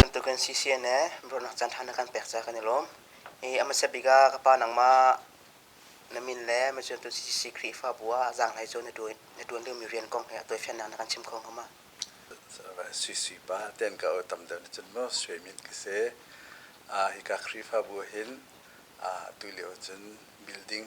Bantuk kan si sian e bronak caan hlan kan pek ca kan i lawm. Hi a hmasa bik ah ka pa nangmah na min le macam tu CCC Khrihfabu ah zang hlai cu na tuan na tuan liomi rian kong he a tuaifiannak na kan chim kho hnga ma? CC pa ten ka o tam deuh na cun mo sui min ka se a hika Khrihfabu hin a tu lio cun building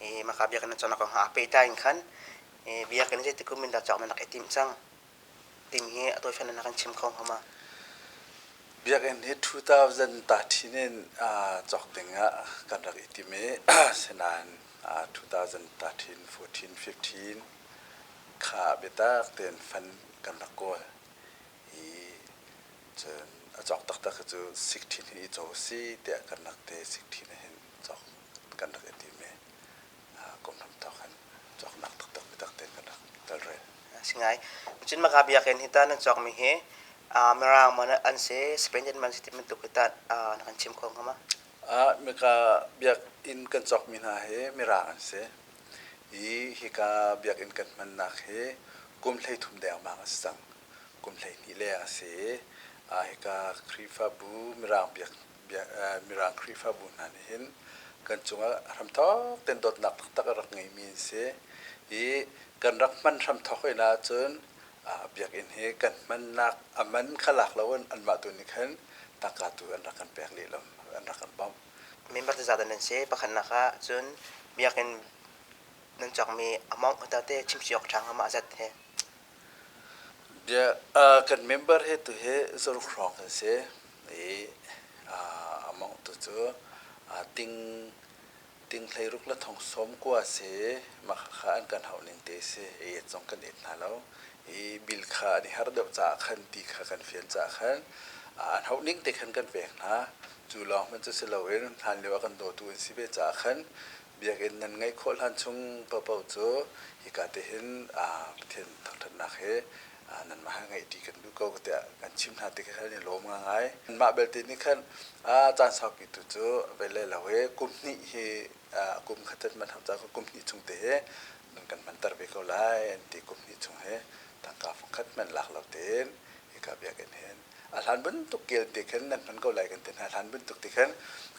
e, maka biakin na cona ko ha peitai in khan e, biakin zei tikum min da chok na nak e tim chang tim hi atoi fan na kan chim khong homa biakin hi 2013 in chok dingah kan rak itim i senan 2013 14 15 kha bitak ten fan kan rak kawl i cun a chok taktak cu 16 hi i cho si tiah kan rak te 16 hin cawk kan rak i tim i kum lam thawk kan cawknak taktak biatak te kan rak telrel. Singai, cin maka biak in hita nan cawk mi hi Mirang man an se Spain man se ti mentuk hita na kan chim khong kama. Ah mika biak in kan cawk mi hna hi Mirang an se. I hika biak in kan hmannak hi kum hlei thum dengmang a si cang. Kum hlei ni leng a si i hika Khrihfabu Mirang biak Mirang Khrihfabu hna nih hin kan cungah hramthawk tein dawtnak taktak a rak ngeimi an si i kan rak hman hramthawk hoi ahcun biakinn hi kan hmannak a man kha lak lo in anmah tu nih khan tangka tu an rak kan pek leh lo an rak kan bawmh. Member te zat nan si pakhatnak ah cun biakinn nan cakmi amount hotate chimci awk ṭhang amah zat he Kan member hi tuhi zaruk hrawng kan si i amah tu cu tinghlei ruk le thongsawm kua a si i mah khakha an kan hauh ning te a si i et zong kan et hna lo i bill kha an i harh deuh caah khan ti kha kan fial caah khan an hauh ning te khan kan pek hna. Cu lawng hmanh cu si loin hlan lio a kan dawtu an si ve caah khan Biakinn nan ngeih khawh hlan chung paohpaoh cu hika te hin Pathian thangṭhatnak he nanmah he ngeih ṭi kan duh ko tiah kan chim hna ti kha kan i lawm ngai. Mah belte nih khan caan saupitu cu vei le lo i kum hnih hi kum khatet hmanh hau caah kum hnih chung te hi nan kan hmanter ve ko lai an ti kum hnih chung hi tangka fungkhat hmanh lak lo tein hika biakinn hin a hlan bantuk kelte khan nan hman ko lai kan ti hna hlan bantuk ti khan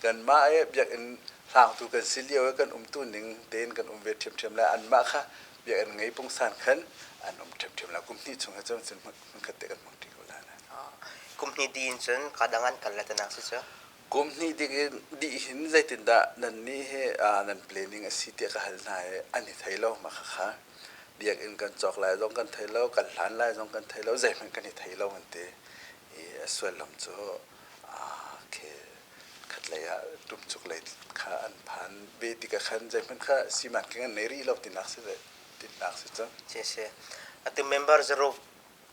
kan mah e biakinn hlangtu kan si lio e kan um tu ning tein kan um ve ṭhiamṭhiam lai an mah kha biakinn ngei pungsan khan an um ṭhiamṭhiam lai kum hnih chung he cun hmun khat te kan hmang ṭi ko lai kum hnih di in cun kadang an kal le tanak si cu kum hnih dingin dih hin zeitindah nannih he nan planning a si tiah ka hal hna i an i thei lo mah khakha biakinn kan cawk lai zong kan thei lo kan hlan lai zong kan thei lo zeihmanh kan i thei lo an ti i a sullam cu okay khatlei ah tumchuk lei kha an phan ve tikah khan zeihmanh kha siman kan nei rih lo tinak si tinak si cun si ati member zero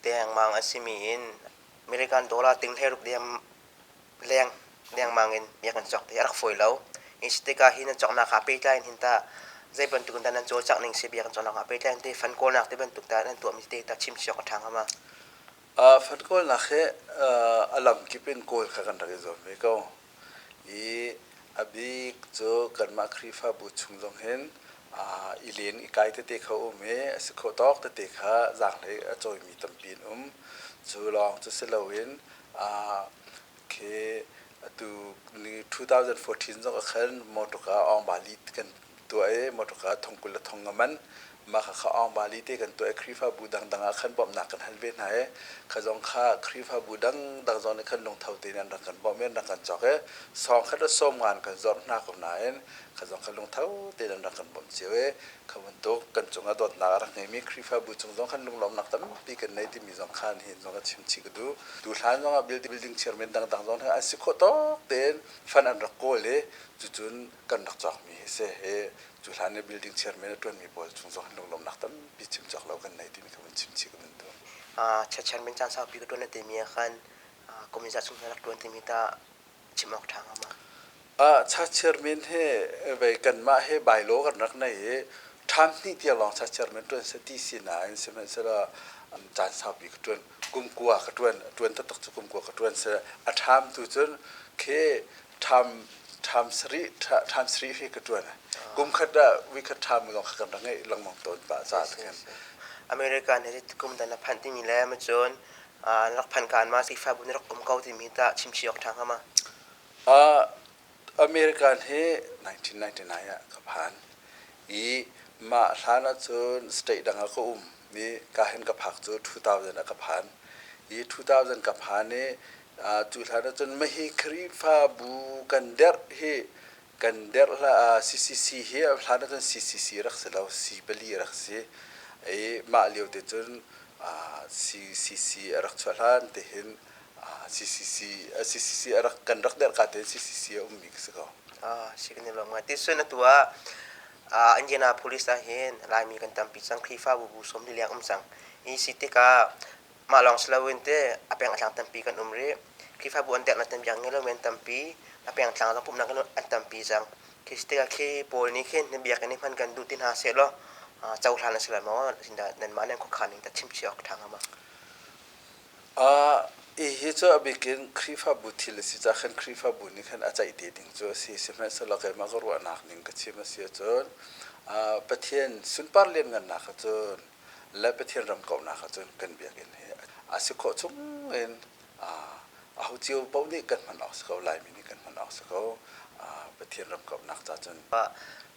te hangmang a simi in American dollar tinghe rup diam leng lengmang in miak an cawk ti a rak fawi lo. Hi si tikah hi nan cawknak ah pehtlai in hin tah zei bantuk in dah nan cawlcangh ning si biak an cawknak ah pehtlai in teh fund kawlnak ti bantuk tah nan tuahmi te tah chim cio a ṭha hnga ma? Uh, fund kawlnak hi uh, a lamkip in kawl kha kan rak i zuam ve ko. I a bik cu kanmah Khrihfabu chung zong hin uh, i len i kai tete kha um i a si khawh tawk tete kha zaanglei a cawimi tampi an um. Cu lawng cu si loin Ah, okay. Atu ni 2014 zong ah khan motor ka Ong Bali kan tuah i motor ka thong kul le thong nga man mah kha Ong Bali te kan tuah i Khrihfabu dangdang ah khan bawmhnak kan hal ve hna i kha zong kha Khrihfabu dangdang zong nih khan lungtho tein an rak kan bawm i an rak kan cawk i sawm khat le sawm ngan kan zawrh hna ko nain kha zong kha lungtho tein an rak kan bawmh cio i kha bantuk kan cung ah dawtnak a rak ngeimi Khrihfabu cung zong khan lunglawmnak tampi kan nei timi zong kha nihin zong a chimchih ka duh. Tu hlan zong ah building chairman dangdang zong an si khawh tawk tein fund an rak kawl i cucun kan rak cawkmi hi si hi cu hlan i building chairman a ṭuanmi pawl cung zong lunglawmnak tampi chimcawk lo kan nei timi kha kan chimchih ka ban duh. chairman caan saupi ka ṭuan a timi ah khan kumin za chung rak ṭuan timi ta chim awk ṭha hnga ma? Uh, chachir min hi vei kanmah hi bylaw kan rak nei i ṭhan hnih tia lawng chachir min ṭuan si ti sinain sihmanhsehlaw um, caan saupi ka ṭuan kumkua ka ṭuan ṭuan taktak cu kumkua ka ṭuan si a ṭham tu cun khi ṭham ṭham sarih ṭha- ṭham sarih hi ka ṭuan kumkhat ah weekend ṭham lawng kha kan rak ngeih lengmang tawn pah ca takin American hi kum dan a phanh timi le macun rak phan kaan ma sifabun rak um ko timi ta chimchi awk ṭha hnga ma American hi 1999 ah ka phan i mah hlan ah cun state dang ah ka um i kahin ka phak cu 2000 ah ka phan i 2000 ka phan i cu hlan ah cun mah hi Khrihfabu kan derh hi kan derh hlah ah CCC hi hlan ah cun CCC rak si lo C pali rak si i mah lio te cun CCC a rak chuah hlan te hin CCC CCC a rak kan rak derh ka te CCC a ummi ka si ko si kan lom ti sun atu ah Indiana police ah hin Laimi kan tampi cang Khrihfa bu bu som li leng um cang i si tikah Mah lawng si loin te a peng a tlang tampi kan um rih. Khrihfabu an deknak tampiang ngeilo men tampi a peng tlang zong pumhnak an tampi cang. Khi si tikah khi Paul nih khin na biakinn i hman kan duh ti hna sehlaw cohlan a si lai maw? Sindah nanmah nih khuakhan in ta chimchih awk ṭha hnga maw? Hihi cu abik in Khrihfabu thil a si cah khan Khrihfabu nih khan a ceih te ding cu a si. Sihmanhsehlaw keimah ka ruahnak ning ka chim a si ahcun Pathian sunpar lianngannak kha cun le Pathian ram kauhnak ah cun kan biakinn hi a si khawh chung in aho cio paoh nih kan hman awk si ko Laimi nih kan hman awk si ko Pathian ram kauhnak ca cun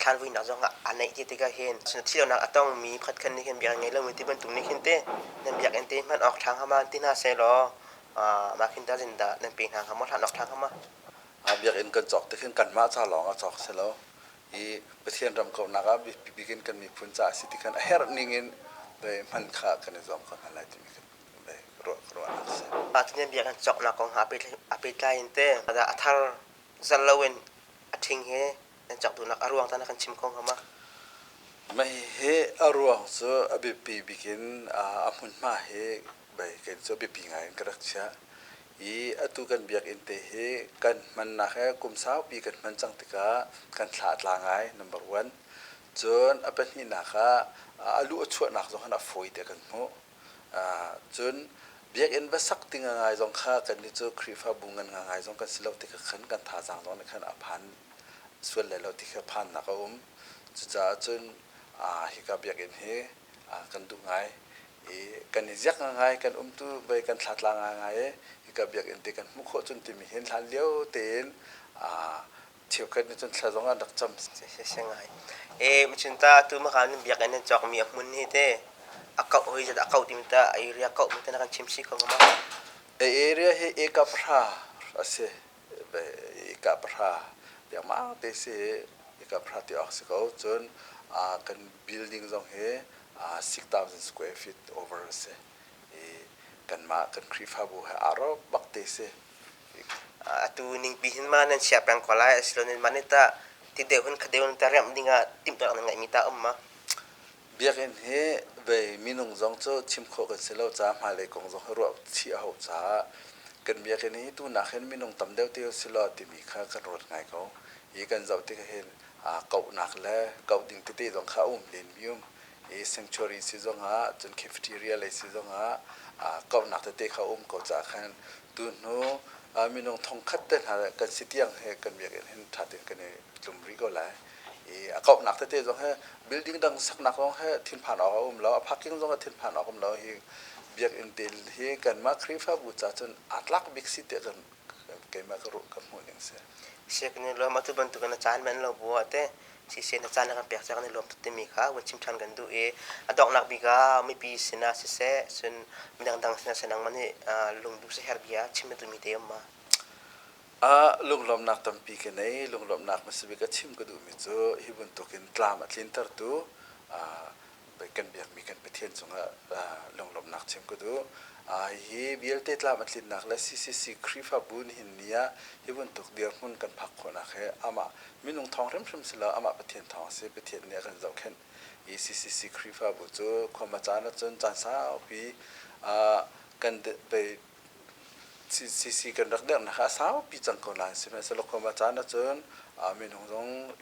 thalvuinak zong ah a neih ti tikah hin thihlonak a tongmi khotkhan nih hin biakinn ngei lomi ti bantuk nih hin te nan biakinn te hman awk ṭhang hama ti hna seh law mah khin ta zindah nan pe hna hnga maw hlan awk ṭhang hama biakinn kan cawk tik hin kanmah ca lawng a cawk si lo i Pathian ramkomhnak ah biapi bik in kan miphun caah a si ti khan a herh ning in lei hman kha kan i zuam ko hna lai timi kan lei ruah ka ruah a si. Pathian bia kan cawknak kong hna a pehtlai in te a thar zal loin a ṭhing he nan cawk duhnak a ruang tana kan chim ko hnga ma? Mah hi a ruang cu a biapi bik in a hmunhma hi baiken cu biapi ngai in ka rak chiah i atu kan biakinn te hi kan hmannak he kum saupi kan hman cang tikah kan thla a tla ngai number one cun a pahnihnak ah a lu a chuahnak zong khan a fawi tiah kan hmuh cun biakinn va sak ding ngai zong kha kannih cu khrihfabu ngan ngai zong kan si lo ti kha khan kan thazaang zong nih khan a phan sual lai lo ti kha phannak a um cucaah cun hika biakinn hi kan duh ngai i kan i ziak ngai kan um tu bei kan thlatla ngai i hika biakinn te kan hmuh khawh cun timi hin hlan lio tein cheukhat nih cun thla zong an rak cam e machin ta tu makan biakinn nan cawk mi a hmun hi te a kau hoi zat a kau ti ta area kau mi te na kan chim si ko ma e area hi e kapra a si Ika pahra tiangmang te si i ika pahra ti awk si ko. Cun kan building zong hi 6,000 square feet over a si i kanmah kan Khrihfabu he aa rawk bak te si. Atu ningpi hin ma nan siah peng ko lai asilonin ma nih tah ti deuh hin khadeu nan ta remh ding ah timhtuahnak na ngeihmi ta um ma? Biakinn hi bei minung zong cu chim khawh kan si lo caah hmailei kong zong hi ruah chih a hau caah kan biakinn hi tunak hin minung tam deuh te si law timi kha kan ruat ngai ko. Hi kan zoh tik hin aa kauhnak le kauh ding tete zong kha a um lenmi um. I sanctuary si zongah cun cafeteria lei si zongah aa kauhnak tete kha a um ko caah khan tunu minung thongkhat te hna kan si tiang hi kan biakinn hin ṭha tein kan i tlum rih ko lai. i a kauhnak tete zong he building dang saknak zong he thinphan awk a um lo a parking zong a thinphan awk um lo hi biakinn te hi kanmah khrihfabu ca cun aa tlak bik si tiah kan keimah ka ruh ka hmuh ning si siak ni lo ma tu bantuk na caan men lo bu ate si se na caan kan pek chak ni lom timi kha un chim than kan du i a doknak bika mi pi sina si se sun midang dang sina senang mani lung du se her bia chim tu mi te ma ah lunglawmnak tampi ka nei lunglawmnak hmasabik a chim ka duhmi cu hi bantukin tlam a tlintertu kan biakmi kan Pathian cungah lunglawmnak chim ka duh hi vialte tlam a tlinnak le CCC Khrihfabu nihin ni ah hi bantuk dirhmun kan phak khawhnak hi amah minung thawng hrimhrim si lo amah Pathian thawng a si Pathian nih a kan zohkhenh i CCC Khrihfabu cu khuama caan ahcun caan saupi kan CC kan rak dernak ah saupi cang ko lai sihmanhsehlaw kum a caan ahcun minung zong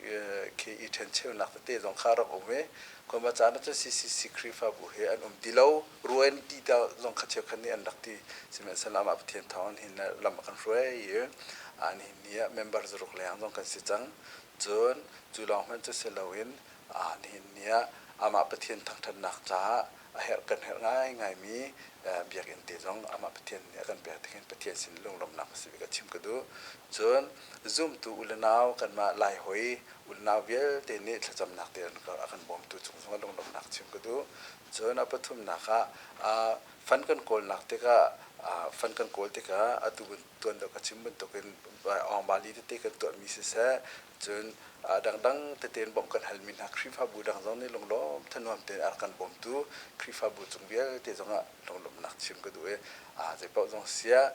khi i ṭhencheunak tete zong kha rak um i kum a caan ahcun CCC Khrihfabu he an um ti lo ruah in ti ta zong kha cheukhat nih an rak ti sihmanhsehlaw amah Pathian thawng hin lam a kan hruai i nihin ni ah member zaruk leng zong kan si cang cun cu lawng hmanh cu si loin nihin ni ah amah Pathian thangṭhatnak caah a herh kan herh ngaingaimi biakinn te zong amah Pathian nih a kan pek tik hin Pathian sin lunglawmhnak a si ka chim ka duh. Cun zumtu u le nau kanmah Lai hoi unau vialte nih thlacamnak te a kan bawmtu cung zongah lunglawmhnak chim ka duh. Cun a pathumnak ah fan kan kawlnak tikah fan kan kawl tikah atu tuan dawh ka chim bantukin Awngbali tete kan tuahmi siseh cun dangdang tete in bawmh kan halmi hna Khrihfabu dang zong nih lunglawm thanuam tein a rak kan bawmtu Khrihfabu cung vialte zongah lunglawmhnak chim ka duh i zeipaoh zong siah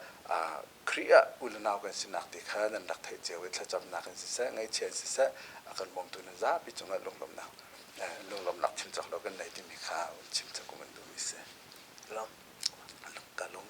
Khrih ah unanau kan sinak te kha nan rak theih cio i thlacamnak in siseh ngaihchia in siseh a kan bawmtu nan zapi cungah lunglawmhnak lunglawmhnak chim cawk lo kan nei timi kha chim cawk kan duh i si. Ka lung.